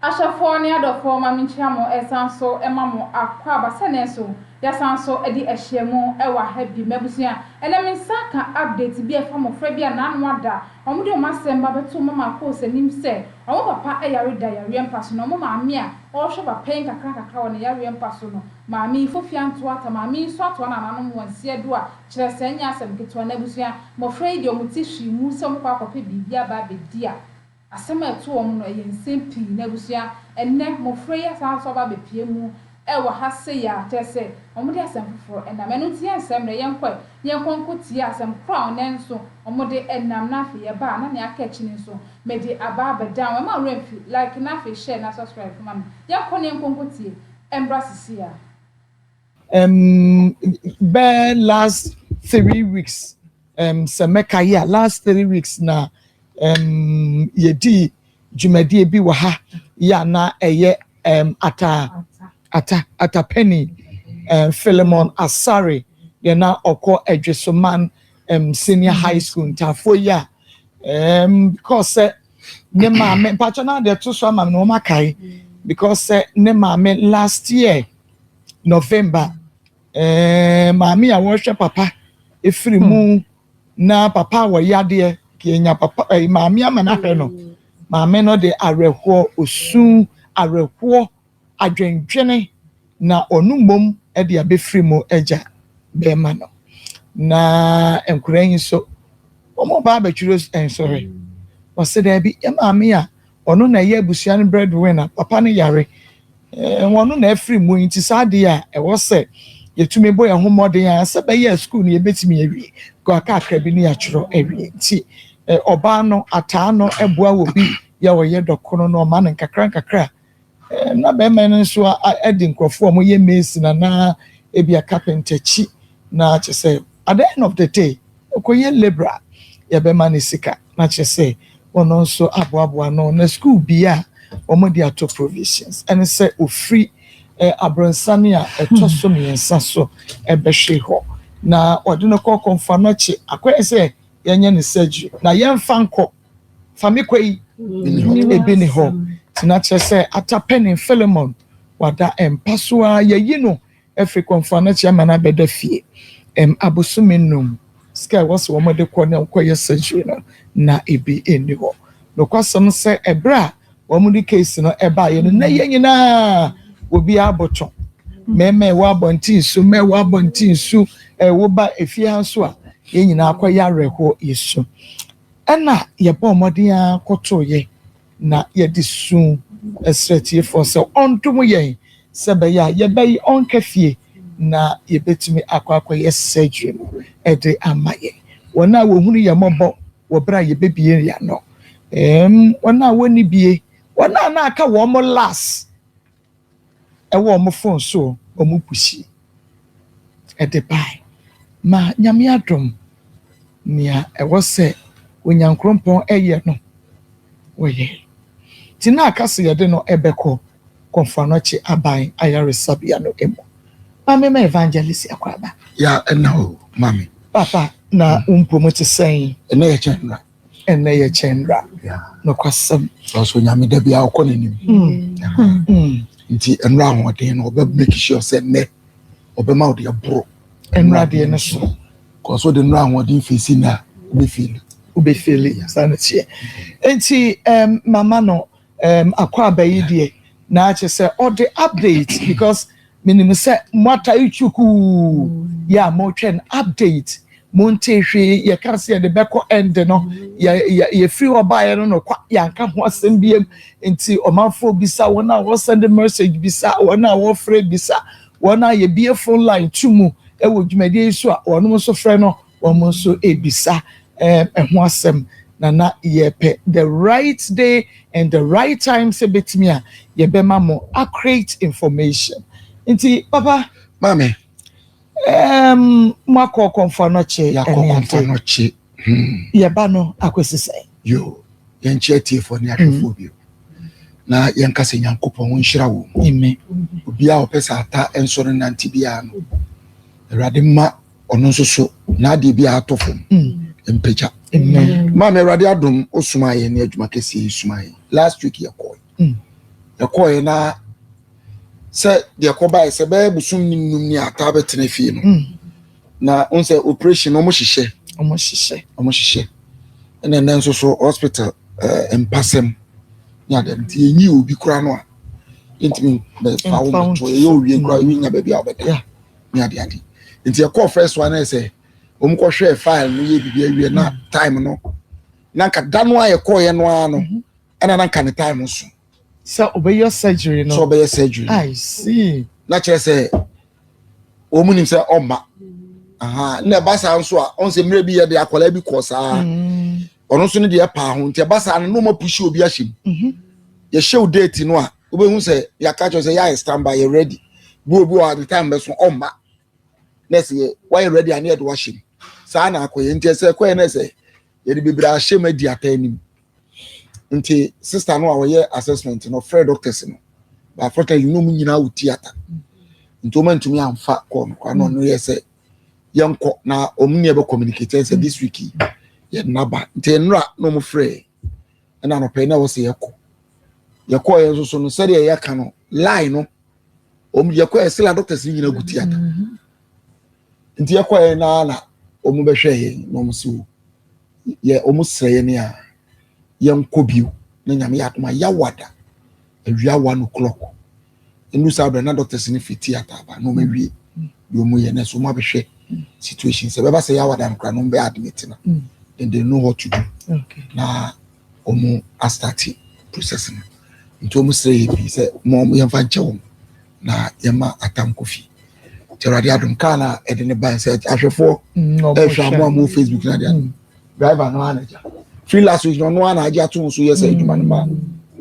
Ahyɛfoɔ ne adɔfoɔ ma menkyia mo ɛsan nso ma mo akwaaba sɛnɛ nso yɛasan nso adi ahyiamu wɔ aha bi. M'abusua, ɛnɛ me nsa ka update bi a ɛfa mmɔfra bi a naano ada wɔn de wɔn asɛm ba bɛto ma makɔɔ sanim sɛ wɔn papa yare da yareɛ mpa so na wɔn maame a ɔrehwɛ ba pɛn kakra nkakra wɔ ne yareɛ mpa so no maame yi fofia antoa ata maame yi nso atoa nananom wɔn nsia du a kyerɛ sɛ ɛnyɛ asɛm ketewa n'abusua mmɔfra yi deɛ wɔn ti hwii mu sɛ wɔn kɔ akɔpɛ biribi aba abɛdi a Asɛm a ɛto wɔn no yɛ nsɛm pii na abusua. Ɛnnɛ, mmofra yi asan so aba abepue mu wɔ ha sei ara, kyerɛ sɛ, wɔde asɛm foforo nam. Ɛno nti, yɛnsɛe mmrɛ, yɛnkɔe na yɛnkɔ nkotie asɛm koro a ɔnnɛ nso wɔde nam, na afei yɛba a na nea aka akyi no nso, mede aba abɛdan wɔn. Mma wo werɛ mfi, like na afei share na subscribe nso ma me. Yɛnkɔ na yɛnkɔ nkotie, ɛmmra sesei ara. Um, bɛɛ last three weeks um, sɛ mɛka yi a last three weeks na um, yɛdii dwumadie bi wɔ ha yɛ a na ɛyɛ um, ata ata atapani um, philemon asare deɛ na ɔkɔ adwesoman um, senior high school ntaafoɔ yi a um, because sɛ ne maame mpakyɛ na deɛ ɛto so ama me na wɔn akae because sɛ ne maame last year november ɛɛ maame a wɔhwɛ papa efiri mu hmm. na papa a wɔyɛ adeɛ kenya papa ɛɛ maame ama n'ahwɛ no maame no de awerɛhoɔ osun awerɛhoɔ. adwendwene na ɔno mmom de abɛfiri mu agya bɛrema no. Na nkwadaa yi nso, wɔn ba abɛtwerɛ nsɔre. Wɔse daabi, yɛ maame a ɔno na ɛyɛ abusua no breadwinner, papa no yare, eh, ɔno na afiri mu nti saa adeɛ a ɛwɔ sɛ yɛtumi bɔ yɛn ho mmɔden a sɛ bɛyɛ a sukuu no yɛbɛtumi awie, kɔ kakra bi ne yɛatwerɛ awie. Nti eh, ɔbaa no ataa no boa wɔ bi yɛ ɔyɛ dɔkono no, ɔma no nkakra nkakra. Na bɛrima no nso de nkurɔfoɔ a wɔyɛ mason anaa ebia carpenter akyi na kyerɛ sɛ at the end of the day ɔkɔyɛ labourer yɛbɛma no sika na kyerɛ sɛ ɔno nso aboaboa ano na school bi a wɔde ato provisions ɛne sɛ ɔfiri abronsane a ɛtɔ so mmiɛnsa so ɛbɛhwe hɔ na ɔde no kɔ kɔmfa no kye akɔyɛ sɛ yɛnyɛ no surgery na yɛmfa nkɔ Fa me kɔ yi, ebi ne hɔ. Nti na kyerɛ sɛ ata panin Filemon wada mpa so ara. Yɛayi no afiri kɔmfoano akyi ama no abɛda fie abosome nnum. Sika a ɛwɔ sɛ wɔde kɔ na wɔkɔyɛ surgery no, na ebi nni hɔ. Nokwasɛm ne sɛ, bere a wɔde case no baeɛ no, na yɛn nyinaa obiara bo twe. Mmarima a ɛwɔ abɔnten su, mmaa a ɛwɔ abɔnten su, woba efie ha nso a, yɛn nyinaa akɔyɛ awerɛhoɔ, yɛsu. Ɛnna yɛbɔɔ mmɔden ara kɔtoo yɛn, na yɛde su srɛɛ Tiefɔɔ sɛ ɔndom yɛn sɛ ɛbɛyɛ a yɛbɛye ɔnka fie na yɛbɛtumi akɔ akɔyɛ surgery no de ama yɛn. Wɔn a wɔhunu yɛn mmɔbɔ wɔ berɛ a yɛbɛbue yɛn ano, wɔn a wɔnni bie, wɔn a na aka wɔn last. Ɛwɔ ɔmo fon so ɔmo pushi ɛde bae ma Nyame adom nea ɛwɔ sɛ Onyankrompɔn ɛyɛ no wɔyɛe nti na aka sɛ yɛde no ɛbɛkɔ Kɔmfo Anɔkye Aban Ayaresabea no mu ma me ma Evangelist Akwaaba. Ya ɛna o mame. Papa na wo mpɔmu te sɛn? Ɛna yɛ kyɛn mmra. Ɛnnɛ yɛ kyɛn nnora. Nokwasɛm. Nanso Onyame da biara ɔkɔ n'anim. Nti nnora ahoɔden no ɔbɛ make sure sɛ nnɛ ɔbɛma ɔde aboro. Nnora deɛ no so. Kɔso de nnora ahoɔden fesi na wobɛfeeli. Wobɛfeeli saa na teɛ. Nti mama no. Erm akwaaba yi deɛ naa kyesɛ ɔde update because menim sɛ moatae kyukuu yeah motwɛn update montee hwee yɛka sɛ yɛde bɛkɔ end no yɛ yɛ yɛfiri hɔ baeɛ no no kwa yɛanka ho asɛm biam nti ɔmanfoɔ bisa wɔn a wɔ send message bisa wɔn a wɔfrɛ bisa wɔn a yɛbie phone line to mu wɔ dwumadie yi so a wɔnom nso frɛ no Wɔn nso rebisa ɛho asɛm na na yɛrepɛ the right day and the right time sɛ ɛbɛtumi a yɛbɛma mo accurate information. Nti papa. Maame. Ɛɛm mo akɔ Kɔmfoanɔkye. Yɛakɔ Kɔmfoanɔkye. Yɛba no akɔsi sɛn? Yoo, yɛnkyɛ atiefoɔ ne ahwɛfoɔ bio na yɛnka sɛ Nyankopɔn nhyira wɔn. Amen. Obiara a ɔpɛ sɛ ata nsɔre nante biara no, Awurade mma ɔno nso so n'adeɛ biara atɔ fam mm. mpagya maame awurade adom wosoma yɛ ne adwuma kɛseɛ yi soma yɛ last week yɛkɔe mm. yɛkɔe na sɛ deɛ kɔbae sɛ bɛyɛ bosom ne num ne ataa bɛtena fie no mm. na wo sɛ operation ɔmo hyehyɛ ɔmo hyehyɛ ɔmo hyehyɛ ɛna ɛnɛ nso so hospital eh, mpasɛm ne adeɛ nti yɛnyi obi kora no a yɛntumi bɛfa wo mɛtoɔ yɛyɛ owie kora yɛnya baabi a wobɛda ne ade ade nti ɛkɔɔ first one ayɛ sɛ wɔn kɔhwɛɛ file no yɛ biribi awie na mm. time no na nka da no a yɛkɔɔyɛ no ara no mhm. ɛna na nka ne time no so. sɛ ɔbɛyɛ surgery no sɛ ɔbɛyɛ surgery no i see na kyerɛ sɛ wɔn nim sɛ ɔmma na ɛba saa nso a ɔn sɛ mmerɛ bi yɛ de akwadaa bi kɔ saa mm. ɔno nso ne deɛ paa ho nti ɛba saa no na wɔn apusi obi ahyɛ mu mhm. yɛhyɛ o date no a. wobɛhu sɛ yɛaka kyerɛ sɛ yɛayɛ stand by yɛ ready bi obi wɔ ne time bɛso ɔmma na ɛsɛ yɛ wayɛ ready a ne yɛde wahyɛ mu saa na akɔyɛ nti ɛsɛ kɔyɛ na ɛsɛ yɛde bebree ahyɛ mu adi ata anim nti sista no a wɔyɛ assessment no ɔfrɛ doctors no baafɔta yi nom nyinaa wɔ theatre nti wɔn ntumi anfa kɔɔ no kwan na ɔno yɛ sɛ yɛnkɔ na wɔn ne yɛ bɛ communicate sɛ this week yɛ naba nti nnora na wɔn frɛ ɛna anɔpɛ yi na wɔsɛ yɛkɔ yɛkɔ yɛn nso so no sɛdeɛ yɛka no line no wɔn yɛkɔ yɛ sila doctors no nyinaa gu theatre nti yɛkɔ yɛn naa na wɔn bɛhwɛ yɛn na wɔn si wo yɛ wɔn srɛ yɛn a yɛn kɔ bio na nyame yɛ adoma yawada awia one o'clock. ɛnu saa berɛ na doctors no firi theatre aba na wɔawie deɛ wɔn yɛ na so wɔn abɛhwɛ situation sɛ bɛba sɛ yɛawada no koraa na wɔn bɛ admit no mm. then they know what to do na wɔn astarte process no nti wɔn srɛ yɛ pii sɛ wɔn yɛmfa nkyɛ wɔn na yɛma atam kɔ fie nti awurade adom kaa na ɛde ne ban sɛ ahwɛfoɔ mm, ɛhwɛ amoa mo facebook na deɛ mm. driver no anagya free last week na ɔno ana agye ato so yɛ sɛ adwuma no ma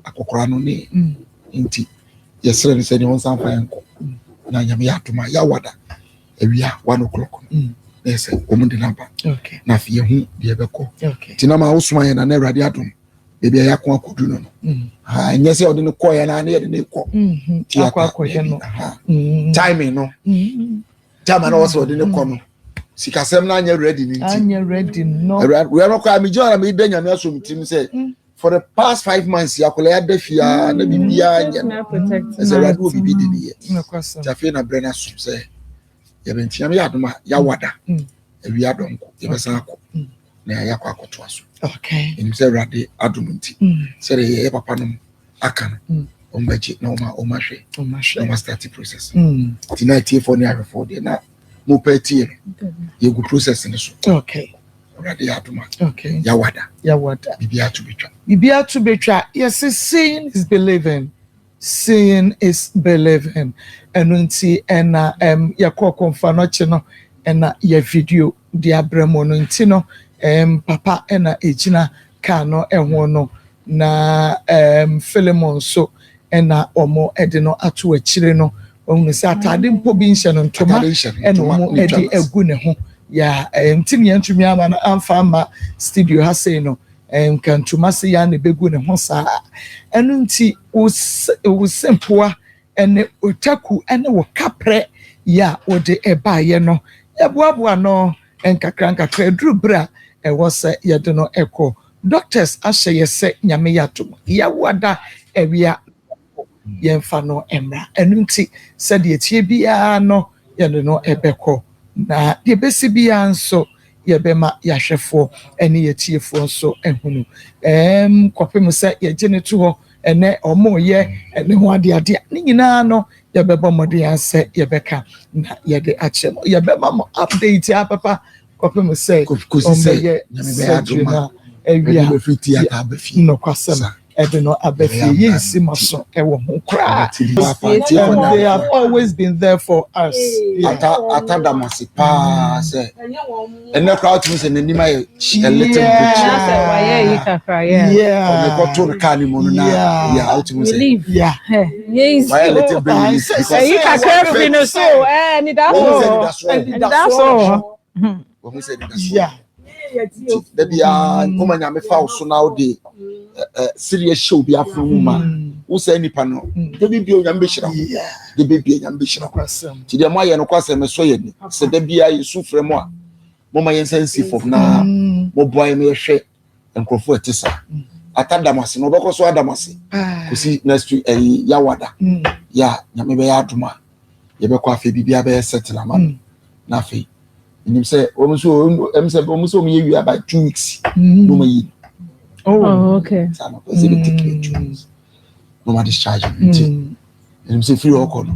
akɔkora no ne Nti yɛsrɛ no sɛ nea ɔnsan mfa yɛn nkɔ na nyame yɛ adom a yɛawada awia one o'clock no mm. na yɛ sɛ wɔn de no aba na afei yɛhu deɛ ɛbɛkɔ nti na ma wosoma yɛn na na awurade adom baabi a yɛako akɔdu no no mm. ɛnyɛ sɛ ɔde no kɔ yɛn na yɛde no kɔ mm-hmm. mm-hmm. timing no mm-hmm. time a na wɔsɛ ɔde no kɔ no sikasɛm no anyɛ ready no nti awurade no kɔ a megye ɔra meyɛ dɛ nyame asom tirim sɛ for the past five months yɛ akwadaa yɛ ada fie aa na bibi aa nyɛ no ɛsɛ awurade wɔ bibi de ne yɛ ti afei na brɛ na so sɛ yɛbɛ nti yɛn yɛ adum a yawada awia dɔnko yɛbɛsan akɔ na yɛ akɔ akɔto aso ɛnim sɛ awurade adum nti sɛ de yɛ papa nom aka no wɔn bɛ gye na wɔn a wɔn ahwɛ na wɔn asitati process ti na etie fɔ ne ahwɛfo deɛ na. mo pɛ tie no yɛgu process no so okay awurade yɛ adoma okay yawada yawada bibi ato betwa bibi ato betwa yɛse seeing is believing seeing is believing ɛno nti ɛna ɛm yɛkɔ kɔnfa no kye no ɛna yɛ video de abrɛ mo no nti no, ɛɛm, papa na ɛgyina kaa no ho no, na, ɛɛm, Filemon nso na wɔde no ato akyire no. Wahunu sɛ ataade mpo bi nhyɛ no, ntoma na wɔde agu ne ho. Yaa, ɛɛm, nti na yɛantumi ama no amfa amma studio ha sei no, ɛɛm, nka ntoma sei ara na ɛbɛgu ne ho saa a, ɛno nti wo se, wo se mpoa ne otaku ne wo kaprɛ yi a wode baeɛ no, yɛboaboa no nkakrankakra ɛduru berɛ a ɛwɔ sɛ yɛde no kɔ. Doctors ahyɛ yɛ sɛ Nyame yɛ adom yawo ada awie a yɛnkɔ, yɛmfa no mmra. Ɛno nti sɛdeɛ ɛteɛ biara no yɛde no bɛkɔ na deɛ ɛbɛsi biara nso yɛbɛma yɛahwɛfoɔ ne yɛatiefoɔ nso ahunu kɔpem sɛ yɛgye no to hɔ. Ɛnnɛ wɔreyɛ ɛno ho adeade a, ne nyinaa no yɛbɛbɔ mmɔden ara sɛ yɛbɛka na yɛde akyerɛ mo. Yɛbɛma mo update ara papa kɔpem sɛ wɔbɛyɛ surgery no awie a, yɛde nokwasɛm ɛde no aba fie. Yɛnsi mo so wɔ ho koraa. And they have always been there for us. Yeah. Ata, ata da mo ase paa sɛ ɛnɛ koraa tumi sɛ n'anim ayɛ a little bit ɔmekɔto no kaa ne mu no na yɛ wotumi sɛ wayɛ little bit ɛyi kakra firi no so ɛnidaso wɔhu sɛ ɛnidaso da biaa nkɔma nyame fa wo so na wode sereɛ hyɛ obi afo mu ma wo sɛ nnipa no da bi bio nyame bɛhyira wo De bɛ bia nyame bɛhyɛ nokwasɛm. Ti deɛ mo ayɛ nokwasɛm ɛsɔ yɛ ni. Sɛ da biara yɛ su frɛ mo a mo ma yɛn nsa nsi fam na mm. mo boa yɛ na yɛhwɛ nkurɔfoɔ ɛte sa. Mm. Ata da mo ase na ɔbɛkɔ so ada mo ase. Kosi next week ɛyi eh, yawada. Mm. Ya nyame bɛyɛ adoma. Yɛbɛkɔ afei biribiara bɛyɛ settle ama no. Na afei nim sɛ wɔn nso ɛm sɛ wɔn nso wɔn yɛ wia by two weeks. Wɔn ayi. Oh okay. Saa na ɔpɛ sɛ bɛ take your choice. na ɔma discharge no nti ɛnim sɛ firi ɔkɔ no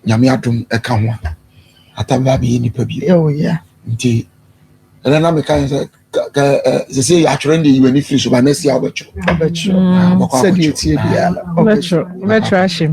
nyame adom ɛka ho a atam bɛ abɛyɛ nipa bi nti ɛnɛ na meka yɛ sɛ sɛ sɛ yɛ atwerɛ de yiw'ani firi so ba na asia wobɛtwerɛ wobɛtwerɛ ahyem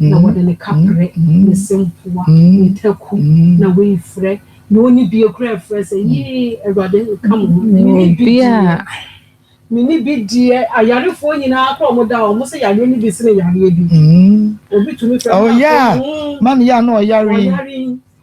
na wɔde ne kaprɛ, ne sempoa, ne taku na wɔafirɛ, na ɔnni bie koraa afirɛ sɛ, Yei, Awurade nka mo ho, menni bi deɛ, menni bi deɛ. Ayarefoɔ nyinaa kora wɔn da a, wɔn sɛ yareɛ no bi sene yareɛ bi. Obi tumi fira mu na ɔyare. Ɔyare yi,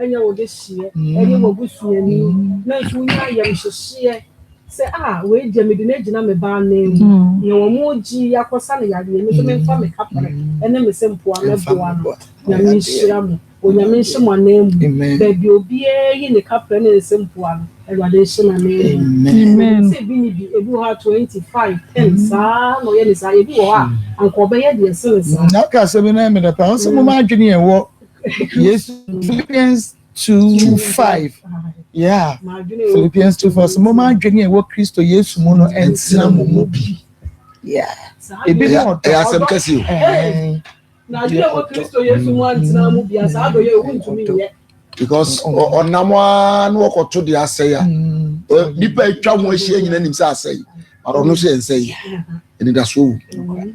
ɛnyɛ wo dehyeɛ ɛne w'abusuani nanso wonya ayamhyehyeɛ sɛ a ah, wei deɛ mede no agyina me ba anan mu mm. na wɔn mu gyi akɔsa no yadeɛ me nso mm. memfa me kapere mm. ɛne me sɛ mpoa mɛboa no nyame nhyira mu onyame nhyɛ mo anan mu baabi obiara yi ne kapere ne nsɛ mpoa no awurade nhyɛ no anan mu sɛ bi ne bi ebi wɔ hɔ a twenty five ten saa na ɔyɛ ne saa ebi wɔ hɔ a anka ɔbɛyɛ deɛ ɛsɛ ne saa. na ɔka sɛ bi na ɛmɛ dɛ paa ɔsɛ mo ma adwene yɛ wɔ. Yes, Philippians 2 5. Yeah, Philippians 2 4. So, mo ma adwene a ɛwɔ Kristo Yesu mu no ɛntena mo mu bi. Yeah. Ebi ni ɔdɔ. Ɛyɛ asɛm kɛse o. Na adwene a ɛwɔ Kristo Yesu mu antena mo bi asa adɔ yɛ ewu ntumi yɛ. Because ɔnam a na wɔkɔto de asɛe a nipa atwa ho ahyia nyina nim sɛ asɛe ɔno hyɛ nsɛe anidasoɔ wɔ mu.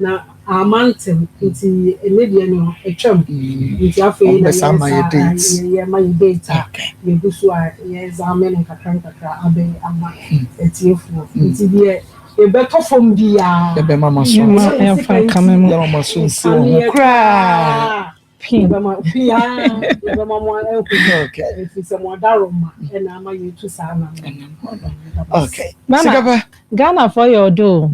Na amma antew, nti ɛnnɛ deɛ no atwam, nti afei na yɛn nsa a yɛyɛ ma yɛ date a yɛgu so a yɛ examine no nkakra nkakra abɛn ama atiefoɔ, nti deɛ yɛbɛtɔ fam biara yɛbɛma mo aso anka, yɛmfa nkame mo, yɛmma mo aso nsiw ho koraa. Pii bɛma pii aa bɛma mo ahu ɛfiri sɛ mo adaro ma ɛna ama yɛtu saa nam sikapa Ghanafoɔ yɛ ɔdɔ o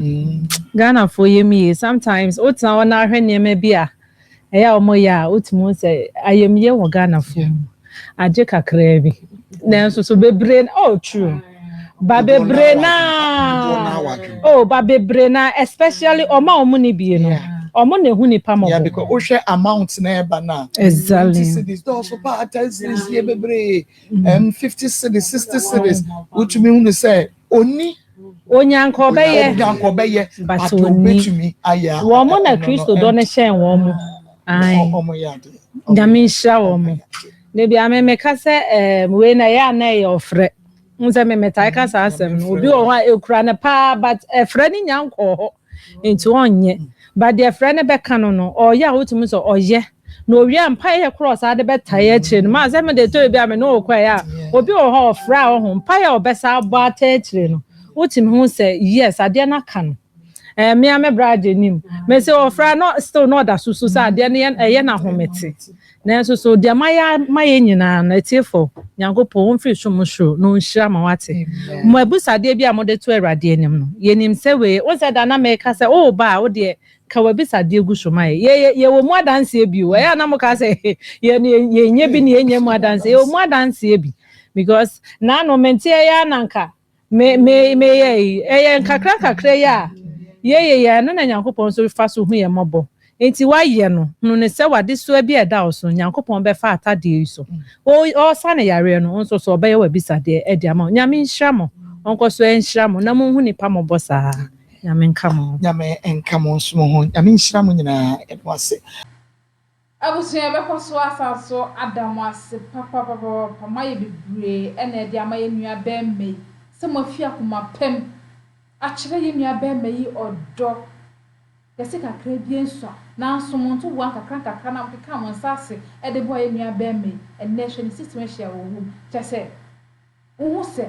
Ghanafoɔ yɛ mu yie sometimes wotena hɔ na ahwɛ nneɛma bi a ɛyɛ a wɔyɛ a wotumi hu sɛ ayamyie wɔ Ghanafoɔ mu. agye kakraa bi nanso so bebree na oh true ba bebree na oh ba bebree na especially wɔn a wɔn ni bie no wɔn na ehu nipa mɔbɔ. yeah because wohwɛ amount na ɛba na. exactly fifty cities dɔɔso paa ten cities yɛ bebree ɛm mm. um, fifty cities sixty cities wotumi hu no sɛ. Onni. Onyanka ɔbɛyɛ. Onyanka ɔbɛyɛ. But onni. Wɔn na Kristo dɔ no hyɛn wɔn. Ae. Nyame nhyira wɔn. Da biara me meka sɛ ɛɛm wei na ɛyɛ a na ɛyɛ ɔfrɛ. N sɛ me metae ka saa asɛm no. Obi wɔ hɔ a ɛkura no paa but ɛfrɛ no nya nkɔɔ hɔ. Nti ɔnyɛ. But deɛ frɛ no bɛka no no, ɔyɛ a wotumi hu sɛ ɔyɛ. Na owie a mpaeɛ korɔ a ɔsan de bɛtae akyire no, m'asɛ me deɛ ɛtɔ bi a me ne wo kɔ a ɛyɛ a obi wɔ hɔ a ɔfrɛ a ɔho, mpaeɛ a ɔbɛsan abɔ ata akyire no, wotumi hu sɛ yes adeɛ no aka no. Ɛɛ me ara me bra agye nim. Mese ɔfrɛ a na still na ɔda so su sɛ adeɛ no yɛ ɛyɛ no ahomete. Nanso so deɛ mayɛ ama yɛn nyinaa no, atiefoɔ, Nyankopɔn ɔmfiri som soro na ɔnhyira ma wate? Mo abisadeɛ bi a mode to Awurade anim no, yɛnim sɛ wei, wohu sɛ da na meka sɛ woreba a, wodeɛ, ka w'abisadeɛ gu so ma yɛn. Yɛ, yɛ, yɛwɔ mu adanseɛ bi o. Ɛyɛ a na moka sɛ, he, yɛn, yɛn, yɛnyɛ bi ne yɛnnya mu adanseɛ. Yɛwɔ mu adanseɛ bi. Because, nanom nteɛ yi ara na anka Me, me, meyɛ yi. Ɛyɛ nkakra nkakra yi a yɛyɛ yi a, ɛno na Nyankopɔn nso fa so hu yɛn mmɔbɔ. Enti woayɛ no, hunu no sɛ w'adesoa bi a ɛda wo so, Nyankopɔn bɛfa atadeɛ yi so. O, ɔresa no yareɛ no, wo nso so ɔbɛyɛ w'abisadeɛ de ama wo. Nyame nhyira mo. Ɔnkɔ so nhyira mo, na monhu nnipa mmɔbɔ saa. Nyame nka mo ho. Nyame nka mo nso mo ho. Nyame nhyira mo nyinaa. Yɛda mo ase. Abusua yɛbɛkɔ so asan so ada mo ase papapapapa moayɛ bebree ɛna ɛde ama yɛn nua bɛɛma yi sɛ moafi akoma pɛm akyerɛ yɛn nua bɛɛma yi ɔdɔ kɛse kakra bia nsua nanso mo ntoboa nkakra nkakra na mokekaa mo nsa ase ɛde boa yɛn nua bɛɛma yi ɛnɛ hwɛ ne situation a ɔwɔ mu kyɛsɛ Wohu sɛ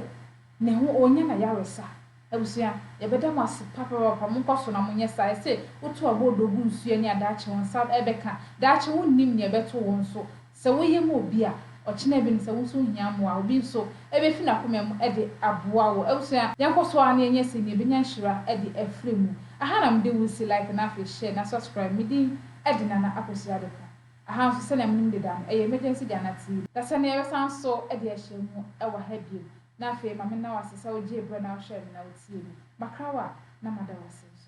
ne ho ɔrenya no ayaresa. Abusua, yɛbɛda mo ase papaapa. Monkɔ so na monyɛ saa. Ɛsɛ sɛ wotu aboodo gu nsu ani a daakye wo nsa bɛka. Daakye wonnim nea ɛbɛto wo nso. Sɛ woyɛ ma obi a, ɔkyena bi no sɛ wo nso wohia mmoa a, obi nso befi n'akoma mu de aboa wo. Abusua, yɛnkɔ so ara na yɛnyɛ sei na yɛbɛnya nhyira de afiri mu. Ɛha na mede wo resi like na afei share na subscribe. Me din de Nana Akosua Adepo. Ɛha nso, sɛnea munim deda no, ɛyɛ emergency Ghana TV. Dasa ni yɛbɛsan so de ahyia mu wɔ ha bio. Na afei ma menna wo ase sɛ wogyee berɛ na wohwɛɛ me na wotiee me. Makra wo a, na mada wo ase nso.